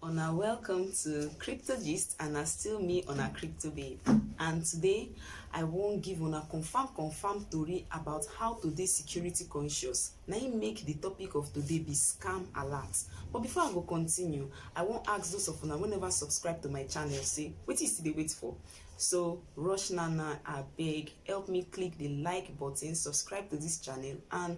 Una welcome to Crypto Gist and na still me una Crypto Babe. And today I wan give una confirm confirm tori about how to dey security conscious. Na im make the topic of today be scam alert. But before I go continue, I wan ask those of una wey never subscribe to my channel say wetin you still dey wait for? So rush now now abeg help me click the like button, subscribe to this channel and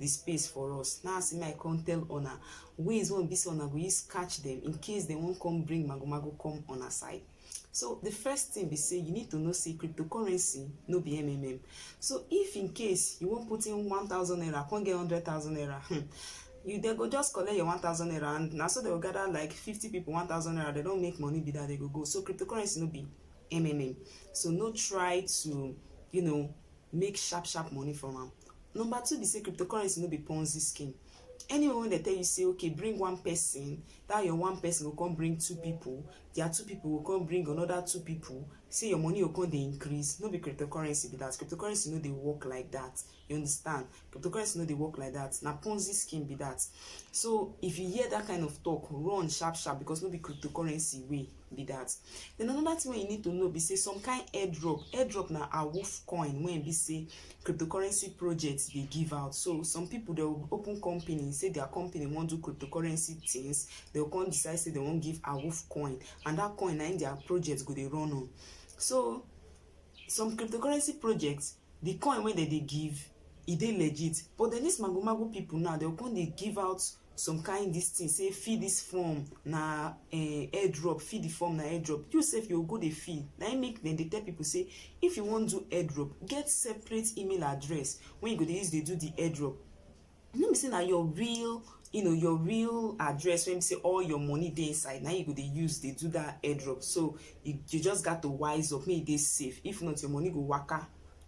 the space for us now see my come tell una ways wey be say una go use catch them in case dem wan come bring magomago come una side so the first thing be say you need to know say cryptocurrency no be mmm so if in case you wan put in one thousand naira come get hundred thousand naira hmm, you dey go just collect your one thousand naira and na so they go gather like fifty people one thousand naira they don make money be that they go go so cryptocurrency no be mmm so no try to you know make sharp sharp money from am. Number two be say cryptocurrency no be ponzi scheme. Anyone wey dey tell you say okay bring one person, that your one person go come bring two people, their two people go come bring another two people, say your money go come dey increase, no be cryptocurrency be that. Cryptocurrency no dey work like that, you understand. cryptocurrency no dey work like that na ponzi scheme be that so if you hear that kind of talk run sharp sharp because no be cryptocurrency way be that then another thing wey you need to know be say some kind airdrop airdrop na awoof coin wey be say cryptocurrency project dey give out so some people dey open company say their company wan do cryptocurrency things they go come decide say they wan give awoof coin and that coin na im their project go dey run on so some cryptocurrency projects the coin wey dem dey give e dey legit but then this mago mago people now dem go come dey give out some kind this thing say fill this form na eh, airdrop fill the form na airdrop you sef you go dey fill na im make dem dey tell people say if you wan do airdrop get separate email address wey you go dey use dey do the airdrop you know be say na your real you know your real address when you say all your money dey inside now you go dey use dey do that airdrop so you, you just got to wise up make e safe if not your money go waka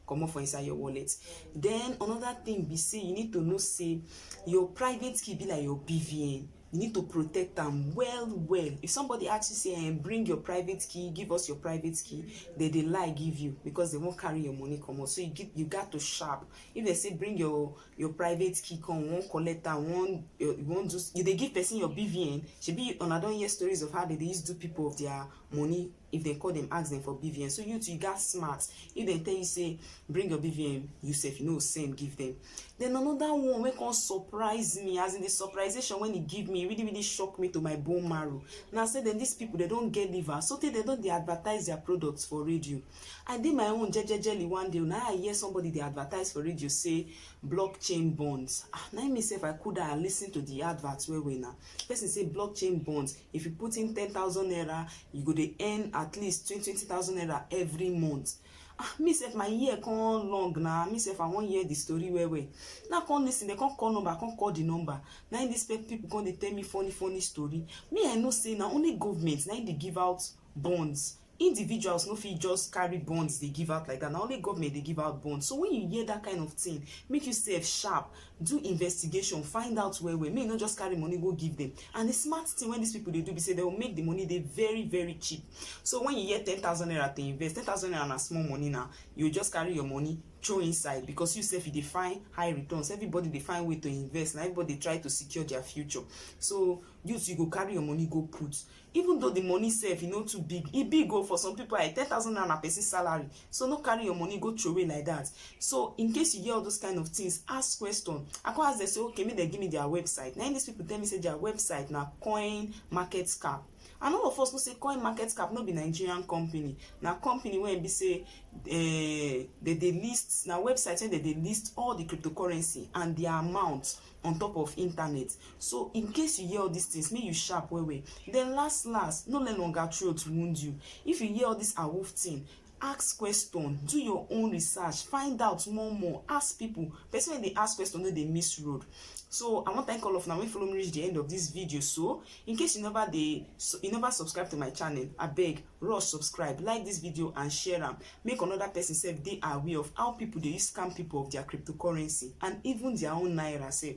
come up for inside your wallet then another thing be say you need to know say your private key be like your bvn you need to protect them well well if somebody asks you say hey, eh, bring your private key give us your private key they they lie give you because they won't carry your money come out so you get you got to sharp if they say bring your your private key come you wan collect am you wan you wan do you dey give person your bvn shebi una don hear stories of how they dey use do people of their money if dem call dem ask dem for bvn so you too you gats smart if dem tell you say bring your bvn you sef you no go send give dem then another one wey come surprise me as in the surprisation when e give me e really really shock me to my bone marrow na say dem these people dem don get liver so tey dem don dey advertise their products for radio I dey my own jejejely one day na I hear somebody dey advertise for radio say blockchain bonds. Ah, na me sef I cool down and listen to the advert well well na. Person say blockchain bonds, if you put in ten thousand naira, you go dey earn at least twenty twenty thousand naira every month. Ah, me sef my ear come long na, me sef I wan hear the story well well. Na come listen, dem come call number, I come call the number. Na im this people come dey tell me funny funny story. Me I know say na only government na im dey give out bonds individuals no fit just carry bonds dey give out like that na only government dey give out bonds so when you hear that kind of thing make you sef sharp do investigation find out well well make you no just carry money go give them and the smart thing wey these people dey do be say they will make the money dey very very cheap so when you hear ten thousand naira to invest ten thousand naira na small money na you just carry your money throw inside because you sef you dey find high returns everybody dey find way to invest na everybody dey try to secure their future so you too you go carry your money go put even though the money sef e no too big e big o for some people like ten thousand naira na person salary so no carry your money go throway like that so in case you get all those kind of things ask question i come ask them say okay make dem give me their website na im these people tell me say their website na coin market cap and all of us know say coin market cap no be nigerian company na company wey be say uh, they dey list na website wey they dey list all the cryptocurrency and their amount on top of internet so in case you hear all these things make you sharp well well then last last no let longer throat wound you if you hear all this awoof thing ask question do your own research find out more more ask people person wey dey ask question no dey miss road so i wan thank all of una wey follow me reach the end of this video so in case you never dey you never subscribe to my channel abeg rush subscribe like this video and share am make another person sef dey aware of how people dey use scam people of their cryptocurrency and even their own naira sef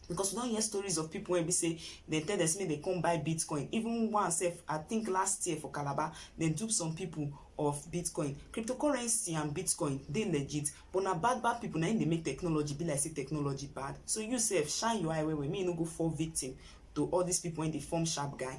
because we don hear stories of people wey be say dem tell dem say make dem come buy bitcoin even one sef i think last year for calabar dem dupe some people of bitcoin cryptocurrency and bitcoin dey legit but na bad bad people na im dey make technology be like say technology bad so you sef shine your eye well well make you no go fall victim to all these people wey dey form sharp guy